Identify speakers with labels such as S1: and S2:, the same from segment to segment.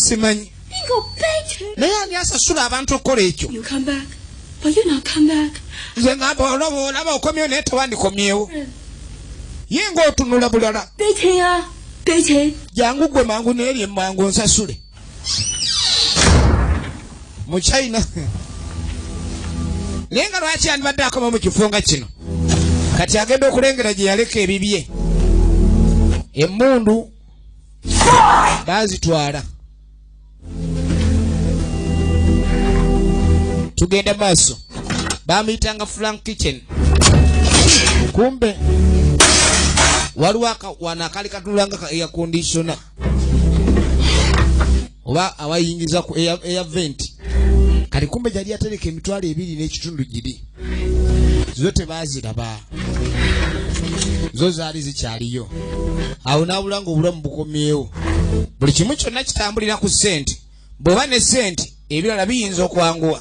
S1: simanyi naye ani asasula abantu okukola ekyo
S2: nze ngamba olaba
S1: olaba okomyewo naye tewandikomyewo hmm. ye ngaotunula bulala jangu gwe mangu neeri emangu nsasule mu china naye nga lwaki yandibadde akoma mu kifo nga kino kati agenda okulengera gye yaleka ebibye emundu baazitwala tugenda maaso bamuyitanga frank kitchen kumbe waliwo wano akaali katunulanga ka air conditiona oba awayingiza ku eya eya vent kati kumbe gyali yatereka emitwalo ebiri n'ekitundu giri zo tebaaziraba zo zaali zikyaliyo awo n'abula nga obulamu bukomyewo buli kimu kyonna kitambulira ku ssente bw'oba ne ssente ebirala biyinza okwanguwa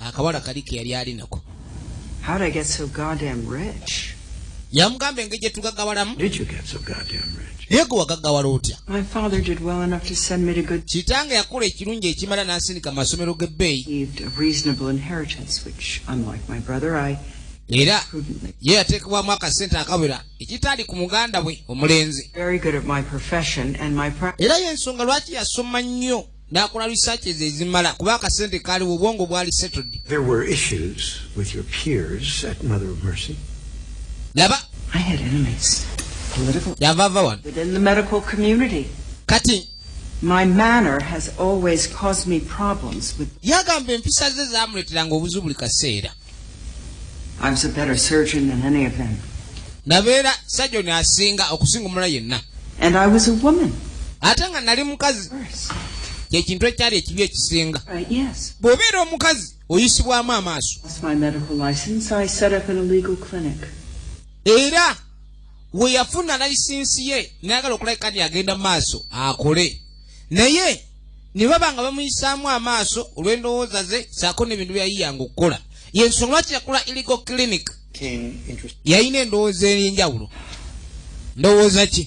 S1: akawala kali ke yali ali nako
S3: yamugamba engeri
S1: gye tugagawalamu
S4: naye gwe wagagawala otya
S3: kitange yakola ekirungi
S1: ekimala n'asindika mu masomero g'ebbeeyi
S3: era
S1: ye yateekebwamu akasente akawera ekitaali ku muganda we omulenzi
S3: era y'ensonga lwaki
S1: yasoma nnyo nakola researches ezimala kuba akasente kaaliwo obwongo bwali settled there were issues
S4: with your peers at mother of mercy laba
S1: i had enemies
S3: political yavava wano within
S1: the medical
S3: community kati
S1: my
S3: manner has always caused me problems with yagamba empisa ze
S1: zamuleteranga obuzibu buli kaseera
S3: nabeera
S1: sajoni asinga okusinga omulala yenna
S3: ate nga nali
S1: mukazi kyekintu ekyali ekibi ekisinga
S3: bw'obeera omukazi
S1: oyisibwamu amaaso
S3: era
S1: we yafuna layisinsi ye nayagala okulabika nti agenda mu maaso akole naye ne baba nga bamuyisaamu amaaso olw'endowooza ze saako n'ebintu byeyayiyanga okukola yensonga lwaki yakola iligo clinic yalina endowooza ey'enjawulo ndowooza ki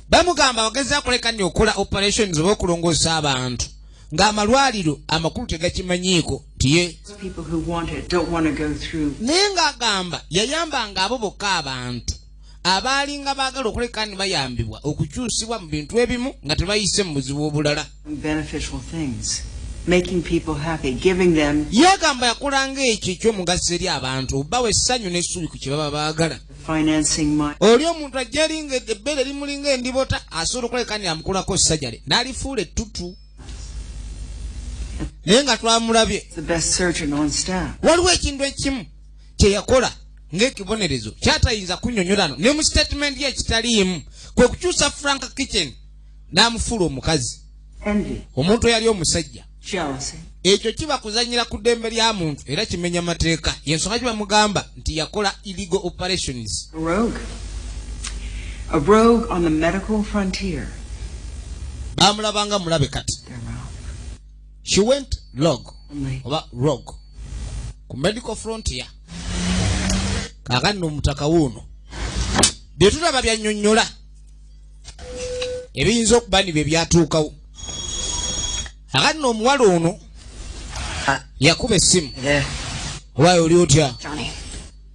S3: bamugamba
S1: bagezi akoleka ni okola operations oba okulongoosa abantu ng'amalwaliro amakulu tegakimanyiiko nti ye naye ng'agamba yayambanga abo bokka abantu abaalinga baagala okuleka ni bayambibwa okukyusibwa mu bintu ebimu nga tebayise mu buzibu obulala
S3: yagamba yakolanga
S1: ekyo ekyomugaso eri abantu bawa essanyu n'essuubi ku kye baba baagala
S3: oli omuntu ajja
S1: linga ebbeere limulinga endibota asobola okuleka ni amukulako sajale n'alifuula ettutu naye nga twamulabye
S3: waliwo ekintu ekimu
S1: kyeyakola ng'ekibonerezo kyatayinza kunyonyolano ne mu sitatimenti ye kitaliimu kwe kukyusa frank kitchen n'amufuula omukazi omuntu eyali omusajja ekyo kiba kuzanyira ku ddembe lya muntu era kimenya mateeka yensonga gye bamugamba nti yakola illegal operations baamulabanga mulabe kati she went log oba rog ku medical frontier kakati nomutaka wuuno byetulaba byanyonyola ebiyinza okuba ni byebyatuukawo akati nomuwala ono yakuba essimu owayo oli otya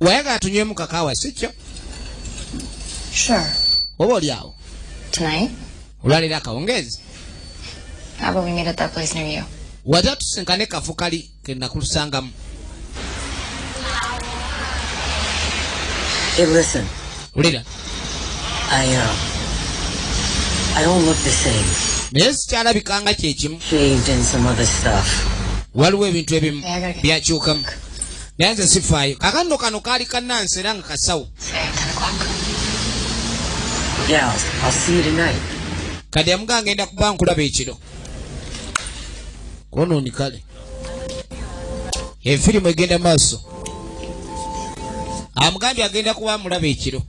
S1: wayagala tunywemu kakaawa sikyo
S5: oba
S1: oli awo
S5: olwaleero
S1: akawungeezi
S5: wata tusinkane
S1: kafu kali kenakulusangamu
S5: Hey, listen. Ulira. I,
S1: uh,
S5: I don't look the same.
S1: Naye sikyalabika nga kyekimu. Shaved and some other
S5: stuff. Waliwo ebintu
S1: ebimu byakyukamu. naye nze sifaayo kakanno kano kaali kanansi era nga kasawo
S5: kati amuga
S1: ngenda kuba nkulaba ekiro konooni kale efirimu egenda maaso amugambye agenda kuba amulaba ekiro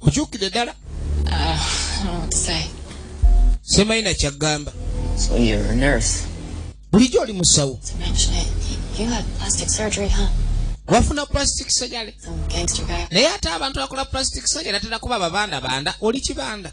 S1: okyukide dala
S5: ah, semayina
S1: kyagamba
S5: bulijjo oli
S1: musawo
S5: wafuna
S1: plastic surgery
S5: naye ate abantu bakola
S1: plastic surgery atera kuba babanda banda oli kibanda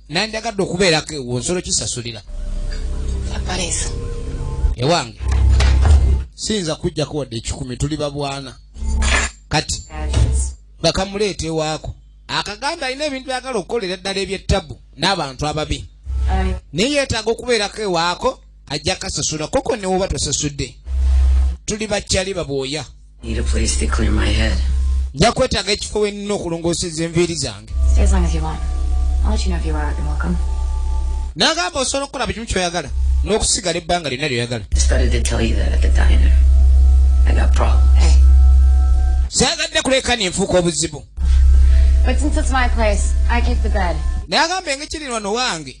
S1: nandyagadde okubeerako ewo nsolo kisasulira ewange siyinza kujjako wadde ekikumi tuli babwana kati bakamuleeta ewaako akaganda alina ebintu byagala okukolera ddala ebyettabu n'abantu ababi naye yeetaaga okubeerako ewaako ajja kasasula koko newoba tosasudde tuli bakyali babwoya nja kwetaaga ekifo wenina okulongooseza enviiri zange nagamba osobola okukola bukimu kyoyagala n'okusigala ebbanga lyonna lyoyagala sagadde kuleka nenfuuka obuzibu naye agamba engekiri wano wange